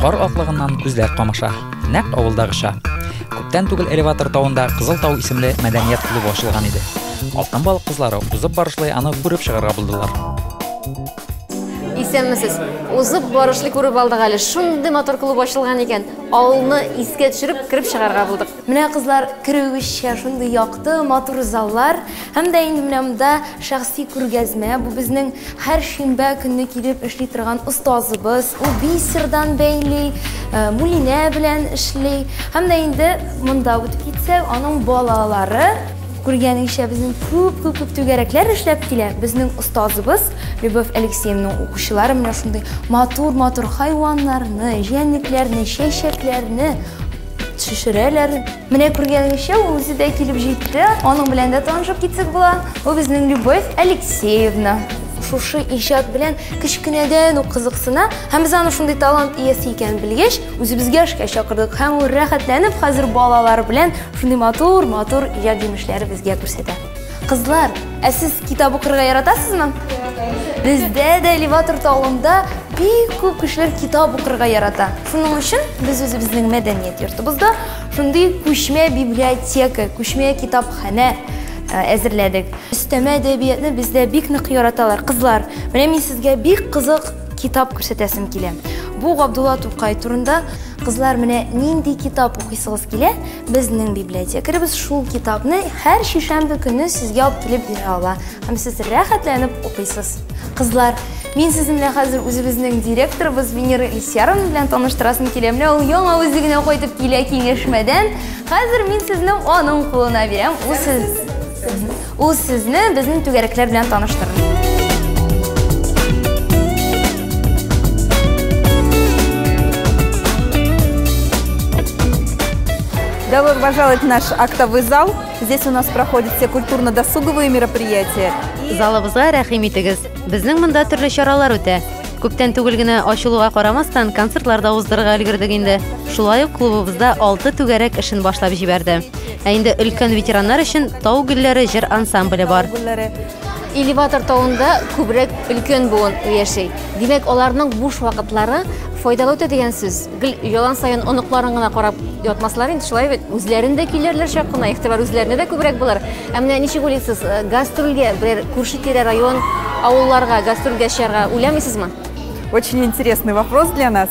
Кар аклыгыннан күзләр камаша. Нәкъ авылдагыча. Күптән түгел элеватор тавында Кызыл тау исемле мәдәният клубы ачылган иде. Алтын балык кызлары узып барышлый аны күреп чыгарга булдылар. Исәнмесез. Узып барышлый күреп алдык әле. Шундый матур клуб ачылган икән. Авылны искә төшереп кереп чыгарга булдык. Менә кызлар керүегезчә шундый якты, матур заллар һәм дә инде менә монда шәхси күргәзмә. Бу безнең һәр шимбә көнне килеп эшли торган остазыбыз. Ул бисердан бәйли, э, мулинә белән эшли. Һәм дә инде монда үтеп китсәк, аның балалары күргәнеңчә безнең күп күп күп түгәрәкләр эшләп килә. Безнең остазыбыз Любовь Алексеевнаның укучылары менә шундый матур-матур хайваннарны, җәнлекләрне, чәчәкләрне, Төшерәләр. Менә күргәнегезчә, ул үзе дә килеп җитте. Аның белән дә танышып китсек була. Бу безнең Любовь Алексеевна. Шушы иҗат белән кечкенәдән үк кызыксына һәм без аны шундый талант иясе икәнен белгәч, үзебезгә эшкә чакырдык һәм ул рәхәтләнеп хәзер балалар белән шундый матур-матур иҗат җимешләре безгә күрсәтә. Кызлар, ә сез китап укырга яратасызмы? Бездә дә элеватор талында бик күп кешеләр китап укырга ярата. Шуның өчен без үзебезнең мәдәният йортыбызда шундый күчмә библиотека, күчмә китапханә э, әзерләдек. Өстәмә әдәбиятны бездә бик нык яраталар. Кызлар, менә мин сезгә бик кызык китап күрсәтәсем килә. Бу Габдулла Тукай турында. Кызлар, менә нинди китап укыйсыгыз килә? Безнең библиотекаребез шул китапны һәр шишәмбе көне сезгә алып килеп бирә ала һәм сез рәхәтләнеп укыйсыз. Кызлар, мин сезне белән хәзер үзебезнең директорыбыз Венера Ильсяровна белән таныштырасым килә. Менә ул яңа үзегенә кайтып килә киңәшмәдән. Хәзер мин сезне аның кулына бирәм. Ул сез Ул сезне безнең түгәрәкләр белән таныштырыр. Добро пожаловать в наш актовый зал. Здесь у нас проходят все культурно-досуговые мероприятия. Залыбызга рәхим итегез. Безнең монда төрле чаралар үтә. Күптән түгел генә ачылуга карамастан концертлар да уздырырга өлгердек инде. Шулай ук клубыбызда алты түгәрәк эшен башлап җибәрде. Ә инде өлкән ветераннар өчен Тау гөлләре җыр ансамбле бар. Элеватор тавында күбрәк өлкән буын яши. Димәк, аларның буш вакытлары файдалы үтә дигән сүз. Гел ялан саен оныкларын гына карап ятмаслар инде, шулай бит. Үзләрен дә көйләрләр чак кына, игътибар үзләренә дә күбрәк булыр. Ә менә ничек уйлыйсыз, э, гастрольгә бер күрше-тирә район, авылларга гастрольгә чыгарга уйламыйсызмы? Очень интересный вопрос для нас.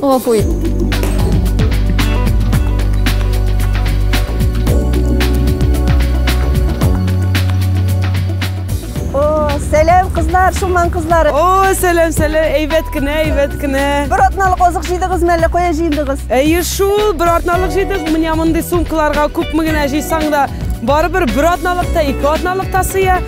Гафу ит. Сәләм кызлар, Шуман кызлары. О, сәләм, сәләм. Әйбәт кенә, әйбәт кенә. Бер атналык азык җыйдыгыз мәллә кая җыйдыгыз? Әйе шул, бер атналык җыйдык. Менә мондый сумкаларга күпме генә җыйсаң да, барыбер бер атналык та, ике атналык та сыя.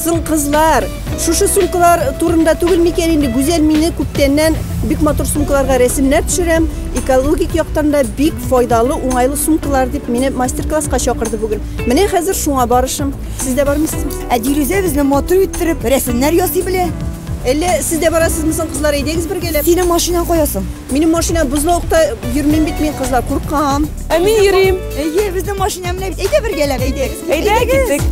Соң кызлар, шушы сумкалар турында түгел микән инде Гүзәл мине күптәннән бик матур сумкаларга рәсемнәр төшерәм, экологик яктан да бик файдалы, уңайлы сумкалар дип мине мастер-класска чакырды бүген. Менә хәзер шуңа барышым. Сез дә бармыйсыз? Ә Дилүзә безне матур иттереп рәсемнәр ясый белә. Әллә сез дә барасызмы соң кызлар, әйдәгез бергәләп. Синең машинаң кая соң? Минем машина бозлавыкта йөрмим бит мин кызлар, куркам. Ә мин йөрим. Әйе, безнең машина менә бит. Әйдә бергәләп, әйдәк. Әйдәгез.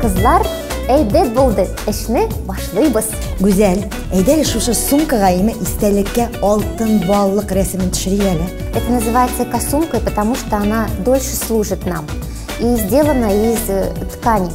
Кызлар, әйбәт булды. Эшне башлыйбыз. Гүзәл, әйдә шушы сумкага име истәлеккә алтын баллык рәсемен төшерик әле. Это называется экосумка, потому что она дольше служит нам. и сделана из э, ткани.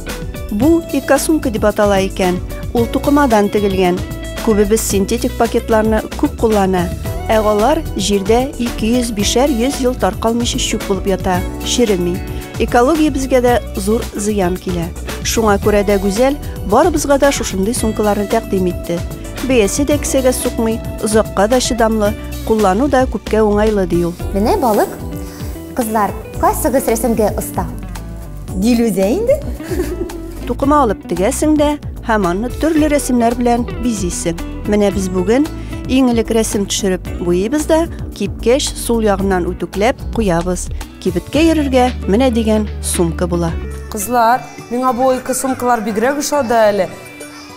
Бу экосумка дип атала икән. Ул тукымадан тегелгән. Күбебез синтетик пакетларны күп куллана, ә алар җирдә 200-500 ел таркалмыйча чүп булып ята, череми. Экология безгә дә зур зыян килә. Шуңа күрә дә Гүзәл барыбызга да шушындый сумкаларны тәкъдим итте. Бәясе дә кесәгә сукмый, озакка да чыдамлы, куллану да күпкә уңайлы ди ул. Менә балык Кызлар, кайсыгыз рәсемгә оста? Дилүзә инде. Тукыма алып тегәсең дә һәм аны төрле рәсемнәр белән бизисең. Менә без бүген иң элек рәсем төшереп буйыбыз да кипкәч сул ягыннан үтүкләп куябыз. Кибеткә йөрергә менә дигән сумка була. Кызлар, миңа бу ике сумкалар бигрәк ошады әле.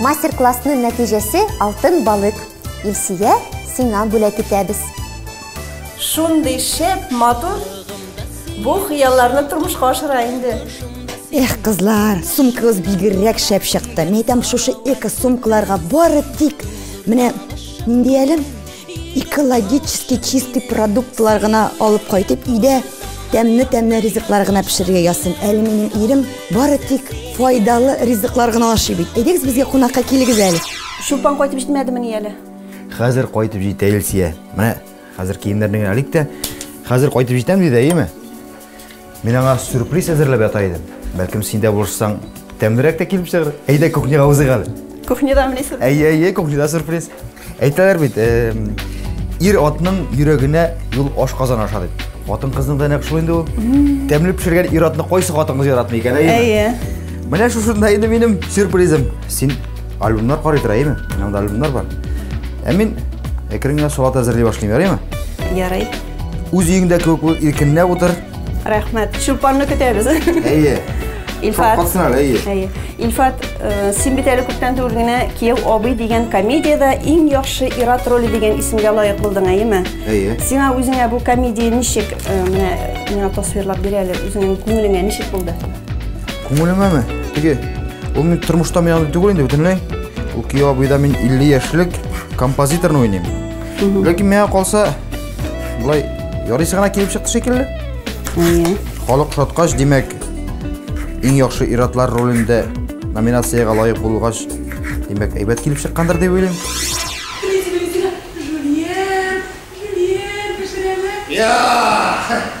Мастер-классның нәтиҗәсе алтын балык. Илсия, сиңа бүләк итәбез. Шундый шәп, матур. Бу хыялларны тормышка ашыра инде. Эх, кызлар, сумкагыз бигерәк шәп чыкты. Мин әйтәм, шушы эко сумкаларга бары тик менә нинди әле экологически чистый продуктлар гына алып кайтып өйдә тәмле тәмле ризыклар гына пешерергә язсын әле минем ирем бары тик файдалы ризыклар гына ашый бит әйдәгез безгә кунакка килегез әле чулпан кайтып җитмәдемени әле хәзер кайтып җитә илсия менә хәзер киемнәрне генә элик тә хәзер кайтып җитәм диде әйеме Мин аңа сюрприз әзерләп ята идем. Бәлкем син дә булышсаң, тәмлерәк тә килеп чыгыр. Әйдә кухняга узыйк әле. Кухняда менә сюрприз. Әйе, әйе, кухняда сюрприз. Әйтәләр бит, ир атның йөрәгенә юл аш казан аша дип. Хатын кызның да нәкъ шул инде ул. Тәмле пешергән ир атны кайсы хатын кыз яратмый икән, әйеме? Әйе. Менә шушында инде минем сюрпризым. Син альбомнар карый тора, әйеме? Минем альбомнар бар. Ә мин әкрен генә салат әзерли башлыйм, ярыймы? Ярый. Үз өеңдә кебек бул, иркенләп утыр. Рәхмәт. Чулпанны көтәбез. Әйе. Илфат. Шапкасын ал, әйе. Әйе. Илфат, э, син бит әле күптән түгел генә Кияү абый дигән комедиядә иң яхшы ир-ат роле дигән исемгә лаек булдың, әйеме? Әйе. Сиңа үзеңә бу комедия ничек, э, менә миңа тасвирлап бир әле, үзеңнең күңелеңә ничек булды? Күңелемәме? Теге, ул мин тормышта миңа түгел инде бөтенләй. Ул Кияү абыйда мин 50 яшьлек композиторны уйныйм. Ләкин миңа калса, Болай ярыйсы гына килеп чыкты шикелле. Әйе. Халык шаткач, димәк, иң яхшы иратлар ролендә номинациягә лаек булгач, димәк, әйбәт килеп чыккандыр дип уйлыйм. Жульен, жульен, пешерәме?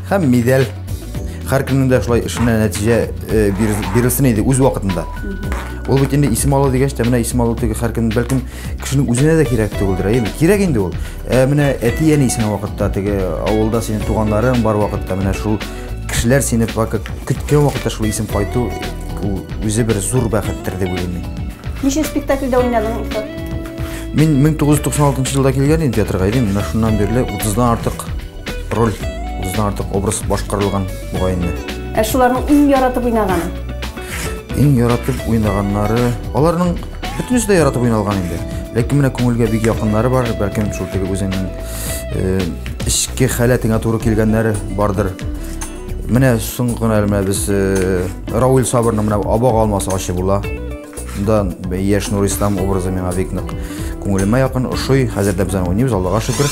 һәм медаль. Һәр көннең дә шулай эшенә нәтиҗә э, бир- бирелсен иде үз вакытында. Ул бит инде исем алу дигәч тә, менә исем алу теге һәр көн бәлкем кешенең үзенә дә кирәк түгелдер, ә инде кирәк инде ул. Ә менә әти-әни сине вакытта теге авылда синең туганнарың бар вакытта менә шул кешеләр сине пока көткән вакытта шул исем кайту ул үзе бер зур бәхеттер дип уйлыйм мин. Ничә спектакльдә уйнадың, Остап? Мин 1996 елда килгән идем театрга, идем, менә шуннан бирле 30-дан артык Роль үзенә артык образ башкарылган мугаенны. Ә шуларның иң яратып уйнаганы? Иң яратып уйнаганнары, аларның бөтенесе дә яратып уйналган инде. Ләкин менә күңелгә бик якыннары бар, бәлкем шул теге үзеңнең э, эчке халәтеңә туры килгәннәре бардыр. Менә соңгы гына менә без э, Рауль Сабырның менә абага алмасы ачы була. Да, яшь Нур Ислам образы миңа бик нык күңелемә якын, ошый. Хәзер дә без аны уйныйбыз, Аллага шөкер.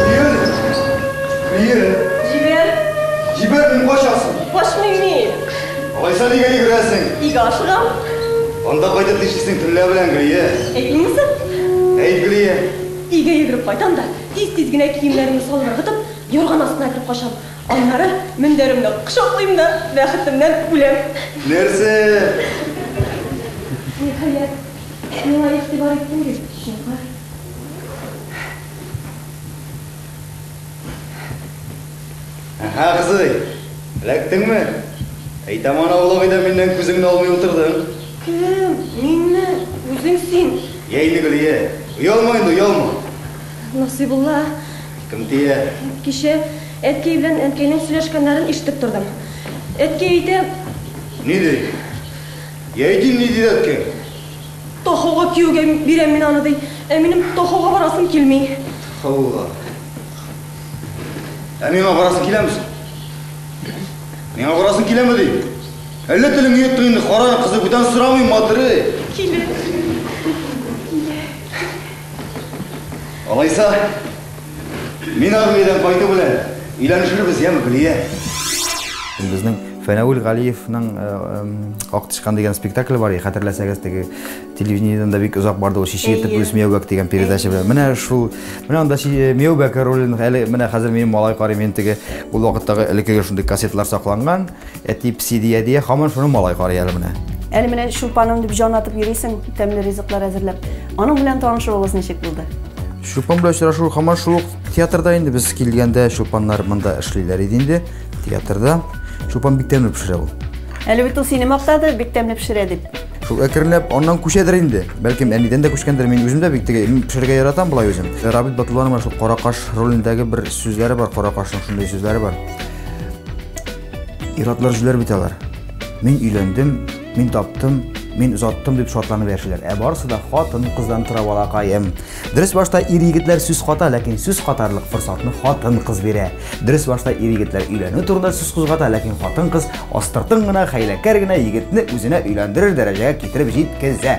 Җибәр! Җибәр! Җибәр! Җибәр, мин качасың! Качмыйм мин! Алайса нигә йөгерәсең? Өйгә ашыгам. Анда кайтып нишлисең төнлә белән, Гөлия? Әйтмим соң? Әйт, Гөлия! Өйгә йөгереп кайтам да, тиз-тиз генә киемнәремне салып ыргытып, юрган астына кереп качам. Аннары мендәремне кочаклыйм да бәхетемнән үләм. Нәрсә? Ниһаять, миңа игътибар иттең бит, чыңгыр. Әһә, кызый, эләктеңме? Әйтәм аны аулагый да миннән күзеңне алмый утырдың. Кем? Минме? Үзең син. Йә инде, Гөлия, оялма инде, оялма. Насыйбулла, Кем тия? Кичә әткәй белән әнкәйнең сөйләшкәннәрен ишетеп тордым. Әткәй әйтә. Ни ди? Я иди ни диде әткәй? Тохуга кияүгә бирәм мин аны, ди. Ә минем Тохуга барасым килми. Тхоуга. Ә миңа барасың киләме соң? Миңа барасың киләме, дим? Әллә телеңне йоттың инде, карар кызы, бүтән сорамыйм, матырый! Килә. Алайса, мин армиядән кайту белән өйләнешербез, яме, Гөлия? Безнең Фәнәвил Галиевның э, э, Ак тычкан дигән спектакль бар, хәтерләсәгез, теге телевидениедән да бик озак барды ул шише итеп үз Мияубәк дигән передача белән. Менә шул, менә анда э, Мияубәк ролен әле менә хәзер минем малай карый, мин теге ул вакыттагы элеккеге шундый кассеталар сакланган. Әти пси дия дия, хаман шуны малай карый әле менә. Әле менә шупаным дип җан атып йөрисең, тәмле ризыклар әзерләп. Аның белән танышуыгыз ничек булды? Шупан белән очрашу хаман шул театрда инде без килгәндә шупаннар монда эшлиләр иде инде театрда. Шупан бик тәмле пешерә ул. Әле бит ул сине мактады, бик тәмле пешерә дип. Шул әкренләп аннан күчәдер инде. Бәлкем әнидән дә күчкәндер. Мин үзем дә бик теге пешерергә яратам болай үзем. Рабит Батулланова шул каракаш ролендәге бер сүзләре бар, каракашның шундый сүзләре бар. Иратлар җүләр бит алар. Мин өйләндем, мин таптым, мин озаттым дип шатланып яшиләр. Ә барысы да хатын кыздан тора балакаем. Дөрес башта ир егетләр сүз ката, ләкин сүз катарлык форсатны хатын кыз бирә. Дөрес башта ир егетләр өйләнү турында сүз кузгата, ләкин хатын кыз астыртын гына хәйләкәр генә егетне үзенә өйләндерер дәрәҗәгә китереп җиткезә.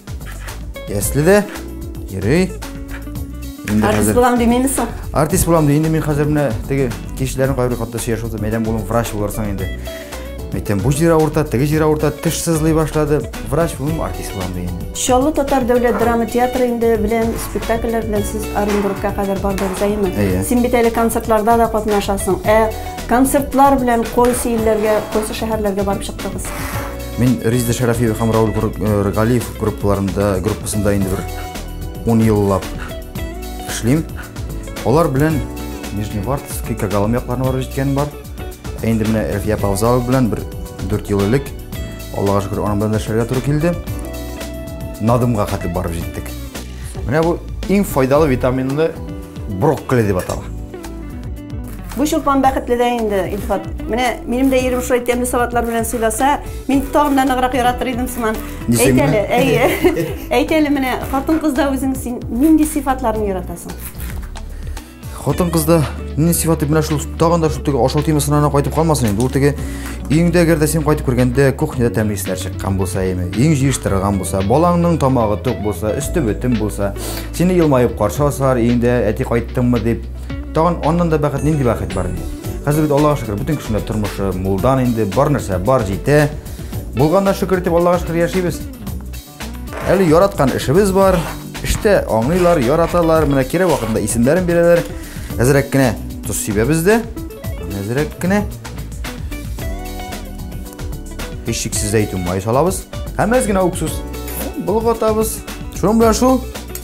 Ясле дә йөри. Инде Артист хәзер булам димеймез соң. артист булам ди. Инде мин хәзер менә теге кешеләрнең кайбер хатта сөйләшеп утырдым. Әйтәм, улым, врач булырсың инде. Әйтәм, бу җир авырта, теге җир авырта, теш сызлый башлады. Врач булмыйм, артист булам ди инде. Чаллы татар дәүләт драма театры инде белән спектакльләр белән сез Оренбургка кадәр бардыгыз, әйеме? Әйе. Син бит әле концертларда да катнашасың. Ә концертлар белән кайсы илләргә, кайсы шәһәрләргә барып чыктыгыз? Мин Резида Шәрәфиева һәм Рауль э, Галиев группаларында, группасында инде бер 10 еллап эшлим. Алар белән Нижневартовский, Кагалым якларына барып җиткән бар. Ә инде менә Әлфия Павзалова белән бер 4 ел элек Аллага шөкер, аның белән эшләргә туры килде. Надымга хәтле барып җиттек. Менә бу иң файдалы витаминлы брокколи дип атала. Бу чулпан бәхетле дә инде, Илфат. Менә минем дә ирем шулай тәмле салатлар белән сыйласа, мин тагын да ныграк яратыр идем сыман. Әйт әле, әйе. Әйт әле менә хатын-кызда үзең син нинди сыйфатларны яратасың? Хатын-кызда нинди сыйфаты менә шул тагын да шул теге ашау темасына гына кайтып калмасын инде. Ул теге өеңдә әгәр дә син кайтып кергәндә кухняда тәмле исләр чыккан булса, яме, өең җыештырылган булса, балаңның тамагы тук булса, өсте бөтен булса, сине елмаеп каршы алсалар, өеңдә әти кайттыңмы дип Тагын аннан да бәхет, нинди бәхет бар инде. Хәзер бит Аллага шөкер, бөтен кешенең тормышы мулдан инде, бар нәрсә бар җитә. Булганнан шөкер итеп Аллага шөкер яшибез. Әле яраткан эшебез бар. Эштә аңлыйлар, яраталар, менә кирәк вакытында исемнәрен бирәләр. Әзрәк кенә тоз сибәбез дә. Әзрәк кенә. Һичшиксез әйтү май салабыз. Һәм әз генә уксус. Болгатабыз. Шуның белән шул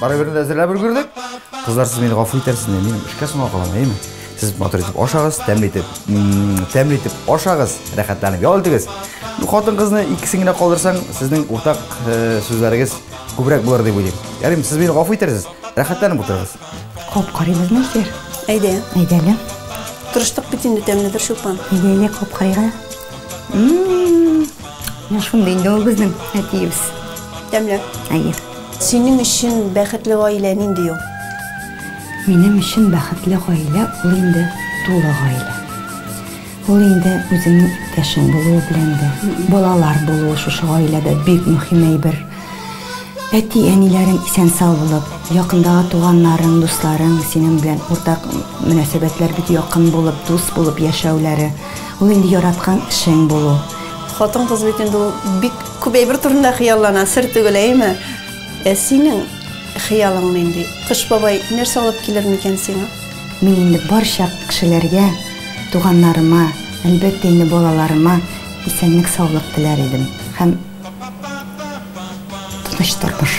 Барыберне дә әзерләп өлгердек. Кызлар, сез мине гафу итәрсез, мин эшкә соңга калам, әйеме? Сез матур итеп ашагыз, тәмле итеп, тәмле итеп ашагыз, рәхәтләнеп ял итегез. Хатын кызны икесен генә калдырсаң, сезнең уртак э, сүзләрегез күбрәк булыр дип уйлыйм. Ярыйм, сез мине гафу итәрсез, рәхәтләнеп утырыгыз. Кап карыйбыз, Нәсир. Әйдә. Әйдә, әйдә. Тырыштык бит инде тәмледер шулпан. Әйдә, әйдә, кап карыйга. Менә шундый инде ул безнең әтиебез. Тәмле. Әйе. Синең өчен бәхетле гаилә нинди ул? Минем өчен бәхетле гаилә ул инде тулы гаилә. Ул инде үзеңнең иптәшең булуы белән дә, балалар булуы шушы гаиләдә бик мөһим әйбер. Әти-әниләрең исән-сау булып, якындагы туганнарың, дусларың синең белән уртак мөнәсәбәтләр бик якын булып, дус булып яшәүләре, ул инде яраткан эшең булу. Хатын-кыз бит инде ул бик. Күп әйбер турында хыяллана, сер түгел, әйеме? Ә синең хыялың нинди? Кыш бабай нәрсә алып килер микән сиңа? Мин инде барча кешеләргә, туганнарыма, әлбәттә инде балаларыма исәнлек-саулык теләр идем һәм тыныч тормыш.